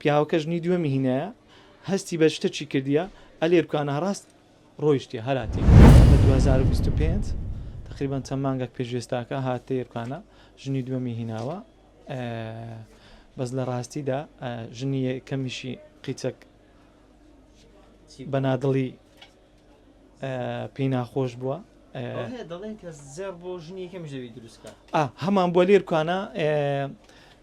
پیاوەکە ژنی دووەمی هینایە هەستی بە شتەکی کردیە ئەلێ بکانە ڕاست ڕۆیشتیە هەر هاتیە لە دوو هەزار و بیست و پێنج تەقریبەن چەند مانگەک پێش ئێستاکە هاتیە بکانە ژنی دووەمی هیناوە بەس لە ڕاستیدا ژنی کەمیشی قیچەک بەنادڵی پێی ناخۆش بووە هەمان بۆ لێرکانە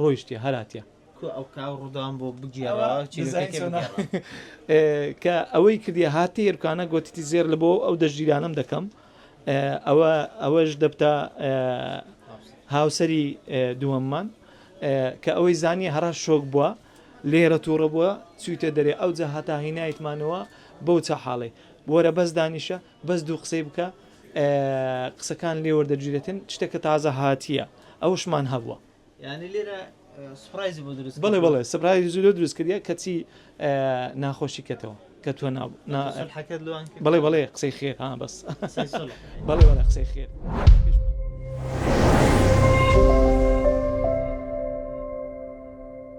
ڕۆیشتیە هەر هاتیە. کوا ئەو کاو ڕوداوم بۆ بگێڕەوە چیرۆکەکەی بگێڕەوە. کە ئەوەی کردیە هاتی ئێرکانە گۆتیتی زێر لە بۆ ئەو دەشتگیرانەم دەکەم ئەوە ئەوەش دەبتە هاوسەری دووەممان کە ئەوەی زانیە هەرا شۆک بووە لێرە تووڕە بووە چویتە دەرێ ئەو جە هەتا هینایتمانەوە بەو چە حاڵێ وەرە بەس دانیشە بەس دوو قسەی بکە قسەکان لێ وەردەگیرێتن شتێکە تازە هاتیە ئەوشمان هەبووە یعنی لێرە سپرایزی بۆ دروست بڵێ بڵێ سپرایزی زۆر دروست کردە کەچی ناخۆشی کەتەوە کە تۆ نابوو بڵێ بڵێ قسەی خێر ها بەس بڵێ بڵێ قسەی خێر